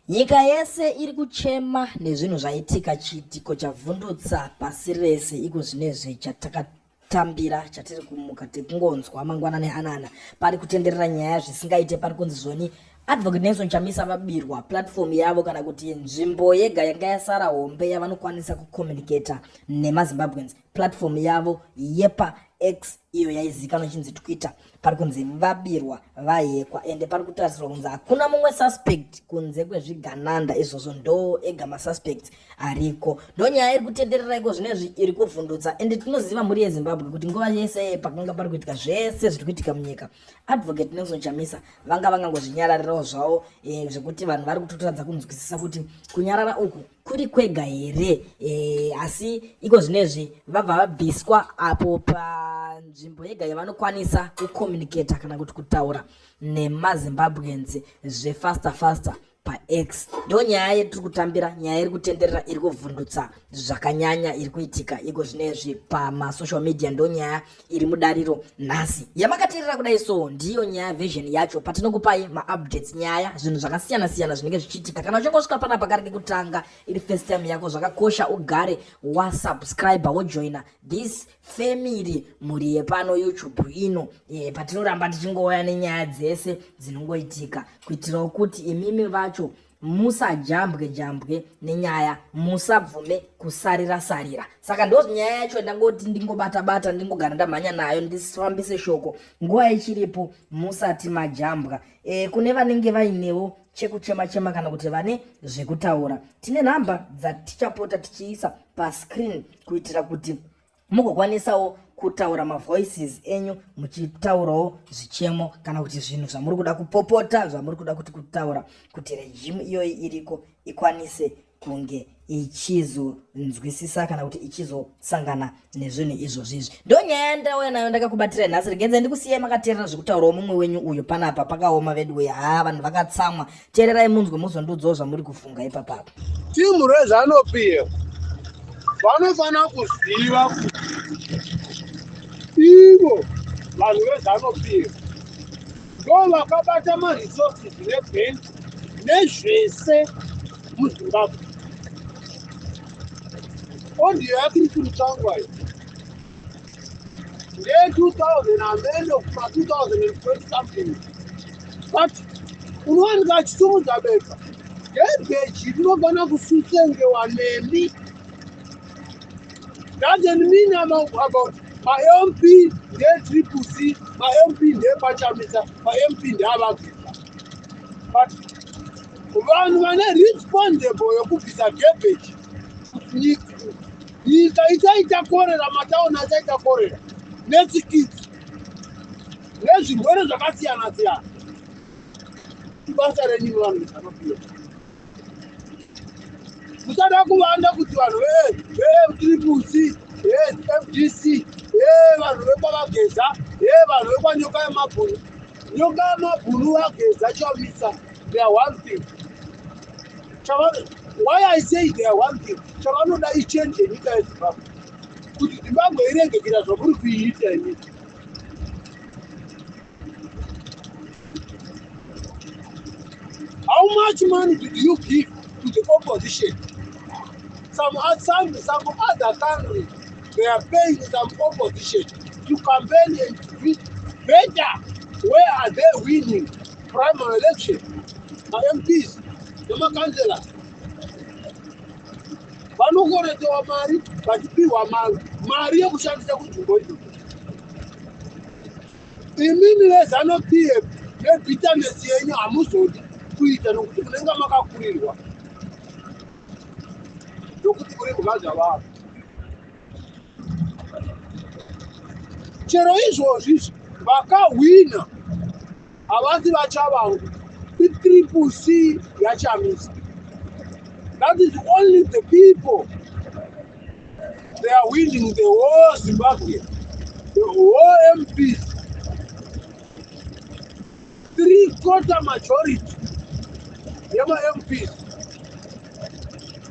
Nyika yese iri kuchema nezvinhu zvaitika chiitiko chavhundutsa pasi rese iko zvinezvi chatakatambira chatiri kumuka tekungonzwa mangwana neanana pari kutenderera nyaya zvisingaite pari kunzi zvoni advocate nelson chamisa vabirwa platform yavo kana kuti nzvimbo yega yanga yasara hombe yavanokwanisa kucommunicata nemazimbabweans platform yavo yepa x iyo yaizikanwa ichinzi twitter pari kunzi vabirwa vahekwa ende pari kutarisirwa kunzi hakuna mumwe suspect kunze kwezvigananda izvozvo ndo ega masuspects ariko ndo nyaya iri kutenderera iko zvine zvi iri kuvhundutsa ende tinoziva mhuri yezimbabwe kuti nguva yese pakanga pari kuitika zvese zviri kuitika munyika advocate nelson chamisa vanga vangangozvinyararirawo zvavo e, zvekuti vanhu vari kutotoradza kunzwisisa kuti kunyarara uku kuri kwega here e, asi iko zvinezvi vabva vabviswa apo panzvimbo yega yavanokwanisa kucommunicata kana kuti kutaura nemazimbabweans zvefaster faster pax ndo nyaya yetiri kutambira nyaya iri kutenderera iri kuvhundutsa zvakanyanya iri kuitika iko zvinezvi pamasocial media ndo nyaya iri mudariro nhasi yamakateerera kudai so ndiyo nyaya version yacho patinokupai maupdates nyaya zvinhu zvakasiyana siyana zvinenge zvichiitika kana uchingosvika pana pakari kekutanga iri first time yako zvakakosha ugare wasubscribe wojoina this family mhuri yepano youtube ino e, patinoramba tichingouya nenyaya dzese dzinongoitika kuitirawo kuti imimi vacho musajambwe jambwe nenyaya musabvume kusarira sarira saka ndo nyaya yacho ndangoti ndingobata bata ndingogara ndamhanya nayo ndisifambise shoko nguva ichiripo musati majambwa e, kune vanenge vainewo chekuchema chema kana kuti vane zvekutaura tine nhamba dzatichapota tichiisa pascreen kuitira kuti mugokwanisawo kutaura mavoices enyu muchitaurawo zvichemo kana kuti zvinhu zvamuri kuda kupopota zvamuri kuda kuti kutaura kuti rejimu iyoyi iriko ikwanise kunge ichizonzwisisa kana kuti ichizosangana nezvinhu izvozvi izvi ndo nyaya yandauya nayo ndakakubatira nhasi regenza ndikusiyai makateerera zvekutaurawo mumwe wenyu uyo panapa pakaoma vedu uya haa vanhu vakatsamwa tererai munzwe muzondudzawo zvamuri kufunga ipapapo team rezano pf vanofanira kuziva kuti ivo vanhu vezano pf ndo vakabata maresources nebank nezvese muzimbabwe ondiyo yakiri kuri tangwayo nge 2000 amene kuma 2020 something but unowanika achisimudza bepa ngebheji rinogona kususengewa nemi doesn't mean about mamp ndetriple c mamp ndepachamisa mamp ndeavabvisa but vanhu vane responsible yokubvisa gebheji nyika nyika ichaita korera matauni achaita korera netsikitsi nezvirwere zvakasiyana siyana ibasa renyu vanhu zanopiwa musada kuvanda kuti vanhu vetriplec fdc vanhu vekwavageza vanhu vekwanyoka yemabhunu nyoka yemabhunu vageza chavisa they are one thing Chava, why i say they are one thing chavanoda ichange yenyika yezimbabwe kuti zimbabwe irenge kuita zvamuri kuiita ini how much money did you give to the opposition some, some, some other country they are paying some opposition to campaign and to beat better where are they winning primary election mamps nemakanzela vanokoretewa mari vachipihwa mari yekushandisa kunzvimbo idzo imimi vezano pf nebitanesi yenyu hamuzodi kuita nokuti munenge makakurirwa nokuti kuri mukadzi avavo chero izvozvi vakahwina Havasi vatsva vangu. Itriple C yaChamisa. That is only the people. They are winning the whole Zimbabwe. The whole MP. Three quarter majority. Yema MPs.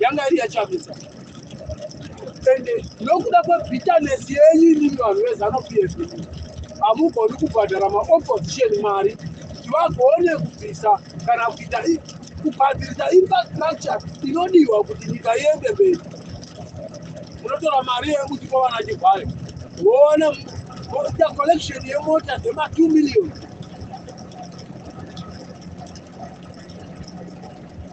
yanga iri yachamisa ende nokuda kwebitterness yenyu imimi vanhu vezanu pf hamugoni kubhadhara maopposition mari kuti vagone kubvisa kana kuita kubhadzirisa infrastructure inodiwa kuti nyika iende mberi munotora mari yekuti kwavana chivhayo woona moita collection yemota dzema 2 million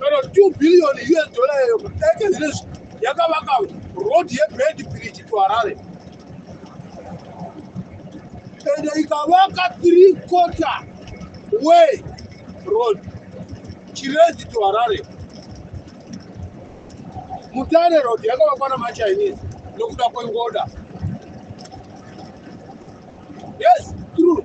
kana 2 billion us dollar yeyo kudake zvinezvi yakavaka road yebed bridge to harare ende ikavaka three quarter way road chirezi to harare mutare road yakavakwa namachinese nokuda kwengoda yes true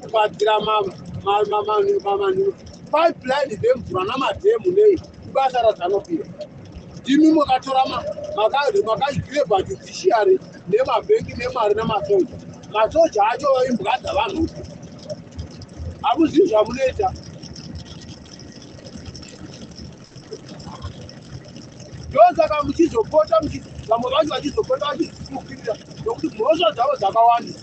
kubatsira mamanhu pipeline dzemvura namadhemu nei ibasa razanopira ndimi makatora makagreba judiciary nemabhengi nemari nemasoja masoja acho imbwa dzavanhu hamuzivi zvamunoita ndosaka muchizopota vamwe vacho vachizopota vachizifukirira nokuti mhosva dzavo dzakawanda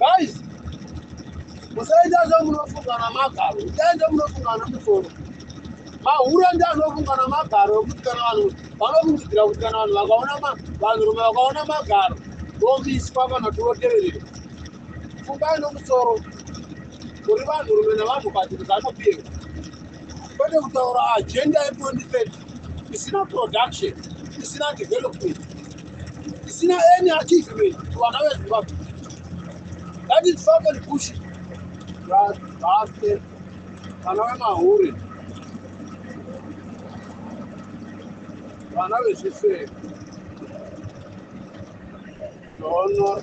Guys, musaita zvamunofungana magaro, itai zvamunofungana musoro. Mahura ndi anofungana magaro ekuti kana vanhu vanofungidzira kuti kana vanhu vakaona vanhurume vakaona magaro vomiswa kana kuti voteverera. Fungai nomusoro kuri vanhurume navanhukadzi kuti vanopiwa kwete kutaura ajenda ye 2030 isina production isina development Sina any article to another Zimbabwe. That is fucking bullshit. That bastard. Vana vemahure. Vana vezvisere. Honor.